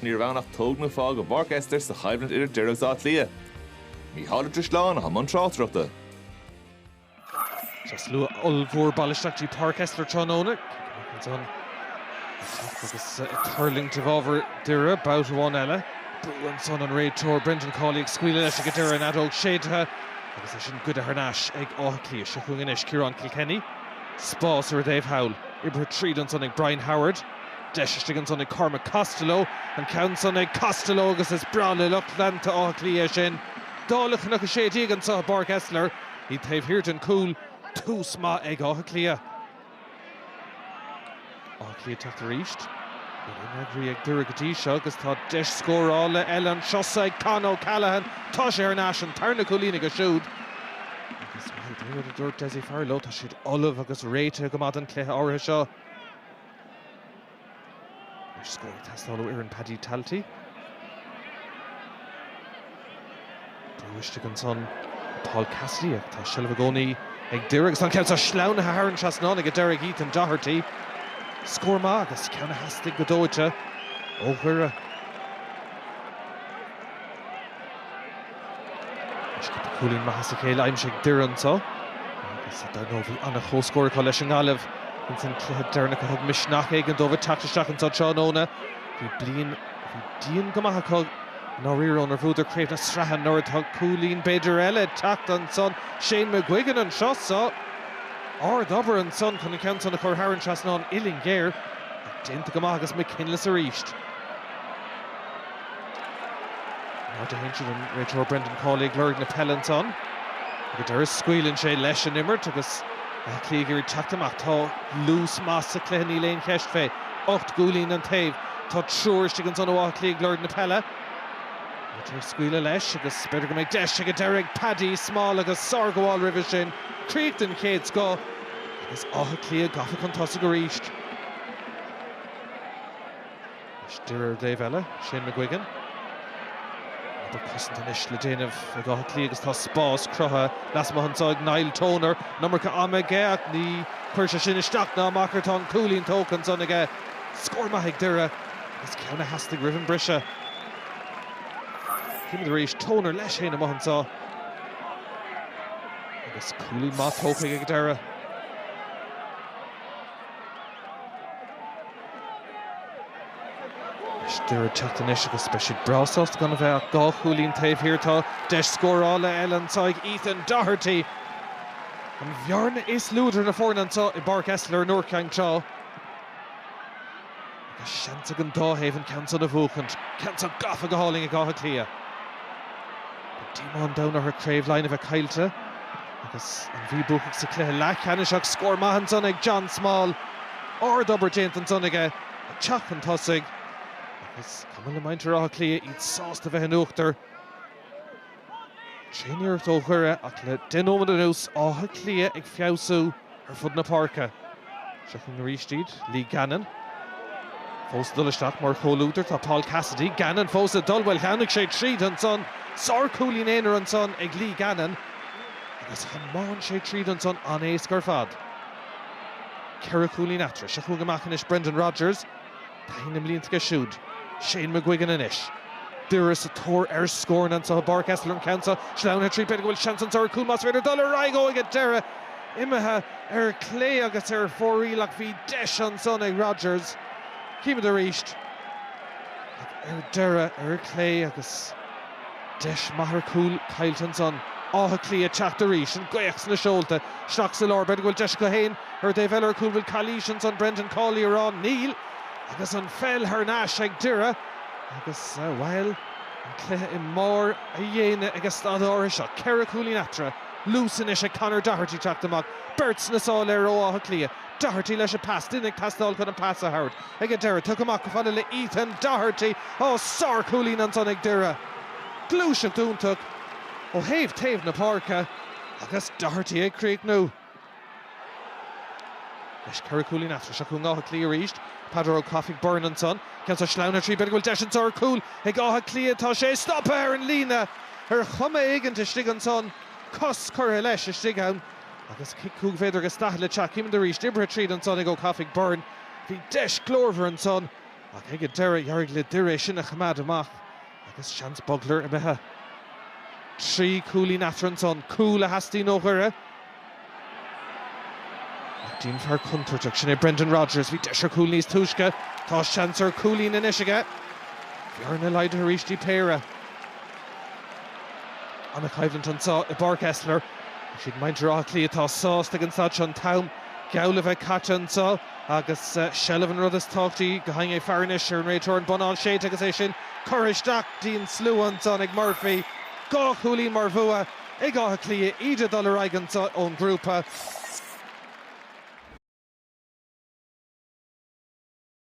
Ní raibh ann ach tóg nó fág i bPáirc Esler sa choimhlint idir Doire agus Áth Cliath. Mícheál de Tristleán a thug an tráchtaireachta. Tá slua ollmhór bailithe isteach go dtí Páirc Esler tráthnóna agus ag tuirlingt i bhfabhar Doire babhta amháin eile. Brú ansan an réiteoir Brendan Cawley ag scaoileadh leis ag an deireadh an fheadóg séidthe agus é sin goidte thar n-ais ag Áth Cliath. Seo chugainn anois Ciarán Kilkenny. Spás ar an dtaobh thall. Oibrithe tríd ansan ag Brian Howard. Deis istigh ansan ag Cormac Costello. An ceann san ag Costello agus is breá le lucht leanta Átha Cliath é sin. Dála Chnoc 16 anseo i bPáirc Esler, iad taobh thiar den chúl. Tús maith ag Áth Cliath. Áth Cliath ag teacht arís. Níl aon fhreagraí ag Doire go dtí seo agus tá deis scórála eile anseo sa ag Con O'Callaghan. Tá sé thar n-ais, an tarna cúilín aige siúd. Agus, bhuel, pé rud a dúirt Dessie Farrell leo, tá siad ullamh agus réitithe go maith don chluiche áirithe seo. Anois scór ag teastáil ó fhoireann Paddy Talty. Brú istigh ansan. Paul Cassidy ach tá seilbh i gcónaí ag Doire agus tá an ceann seo sleamhnaithe thar an trasnán ag deireadh ag Ethan Doherty. Scór maith agus ceann a theastaigh go dóite ó Dhoire. Anois cúpla cúilín maith as a chéile aimsithe ag Doire anseo agus dar ndóigh bhí an-chomhscór acu leis an nGaillimh insan chluiche deireanach a thug misneach éigin dóibh teacht isteach anseo tráthnóna. Bhí bliain a bhí dian go maith acu. I ndáiríre, ónar bhuadar Craobh na Sraithe anuraidh. Tá cúilín, b'fhéidir, eile ag teacht ansan, Shane McGuigan anseo sa, ardobair ansan chun an ceann san a chur thar an trasnán uillinn ghéar, ach déanta go maith agus McKinless arís in airde ansiúd, an réiteoir Brendan Cawley ag lorg na peile ansan. Ag an deireadh scaoileann sé leis an imirt agus Áth Cliath ag iarraidh teacht amach. Tá luas maith sa cluiche níl aon cheist fé. Ocht gcúilín an taobh. Tá triúr istigh ansan ó Áth Cliath ag lorg na peile. Réiteoir ag scaoileadh leis agus b'fhéidir go mbeidh deis ag an deireadh ag Paddy Small agus sárghabháil roimhe sin, críoch den chéad scoth agus Áth Cliath gafa chun tosaigh arís. Anois Doire ar an dtaobh eile, Shane McGuigan. Obair cosanta anois le déanamh ag Áth Cliath agus tá spás cruthaithe lasmuigh anso ag Niall Toner. An iomarca ama aige ach ní chuirfidh sé sin isteach ná amach air. Tá an cúilín tógtha ansan aige. Scór maith ag Doire agus ceann a theastaigh roimh an briseadh. Címid arís Toner leis féin amuigh anseo agus cúilín maith tógtha aige ag deireadh. Is Doire ag teacht anois agus beidh siad breá sásta gan a bheith ach dhá chúilín taobh thiar. Tá deis scórála eile anseo ag Ethan Doherty, an bhearna is lú idir na foirne anseo i bPáirc Esler in Iúr Cinn Trá. Agus seans ag an dá thaobh an ceann san a bhuachaint. Ceann seo gafa go hálainn ag Áth Cliath. Beidh díomá an domhain orthu Craobh Laighean a bheith caillte agus An Mhí buacach sa chluiche leathcheannais ach scór maith ansan ag John Small. Ardobair déanta ansan aige ag teacht chun tosaigh agus is cuma le muintir Átha Cliath, iad sásta bheith in uachtar. tréaniarracht ó Dhoire ach le deich nóiméad anuas Áth Cliath ag feabhsú ar fud na páirce. Seo chugainn arís iad, Lee Gannon fós ag dul, istigh mar chomhluadar tá Paul Cassidy. Gannon fós ag dul, bhuel chuaigh sé tríd ansan, sárchúilín aonair ansan ag Lee Gannon agus thiomáin sé tríd ansan an-éasca ar fad. Ceithre chúilín eatarthu. Seo chugainn amach anois Brendan Rogers. Taithí na mblianta aige siúd, Shane McGuigan anois, Doire sa tóir ar scóranna anseo i bPáirc Esler, an ceann seo sleamhnaithe tríd. B'fhéidir go bhfuil seans anseo ar chúl más féidir dul ar aghaidh ó ag an deireadh. Imithe ar chlé agus ar fóraoil ach bhí deis ansan ag Rodgers. Chímid arís. Ach ar deireadh ar chlé agus. Deis maith ar chúl caillte ansan. Áth Cliath ag teacht arís. An gaoth sna seolta. Isteach sa lár. B'fhéidir go bhfuil deis acu féin. Ar an dtaobh eile ar chúl, bhfuil calaois ansan? Brendan Cawley á rá? Níl. Agus an pheil thar n-ais ag Doire agus, bhuel, an cluiche i mbarr a dhéine ag an staid áirithe seo. Ceithre chúilín eatarthu. Luas anois ag Conor Doherty teacht amach. Beirt sna sála air ó Áth Cliath. Doherty leis an pas. Duine ag teastáil chun an pas a thabhairt ag an deireadh. Tugtha amach go fada le Ethan Doherty. Ó, sárchúilín ansan ag Doire. Gluaiseacht iontach ó thaobh taobh na páirce agus Doherty ag críochnú leis. Trí chúilín eatarthu. Seo chugainn Áth Cliath arís. Peadar Ó Cofaigh Byrne ansan. Ceann seo sleamhnaithe tríd. B'fhéidir go bhfuil deis an tsárchúil ag Áth Cliath. Tá sé stoptha ar an líne ar chuma éigint istigh ansan. Cos curtha leis istigh ann. Agus cic chúig mhéadar agus daichead le teacht, címid arís oibrithe tríd ansan ag Ó Cofaigh Byrne. Bhí deis glórmhar ansan ach ag an deireadh d'éirigh le Doire é sin a choimeád amach agus seans Bugler imithe. Trí chúilín eatarthu ansan. Cúl a theastaíonn ó Dhoire ach d'aon fhear contúirteach, sin é Brendan Rogers, bhí deis ar chúl níos túisce, tá seans ar chúilín anois aige. Bearna laghdaithe arís, dtí péire. Ana-choimhlint anseo i bPáirc Esler. Is iad muintir Átha Cliath atá sásta ag an staid seo an t-am geall le bheith caite anseo agus seilbh an rud is tábhachtaí ag faire anois ar an réiteoir an bonnán séidte agus é sin curtha isteach dtí an slua ansan ag Murphy. Dhá chúilín mar bhua ag Áth Cliath, iad ag dul ar aghaidh anseo ón ghrúpa.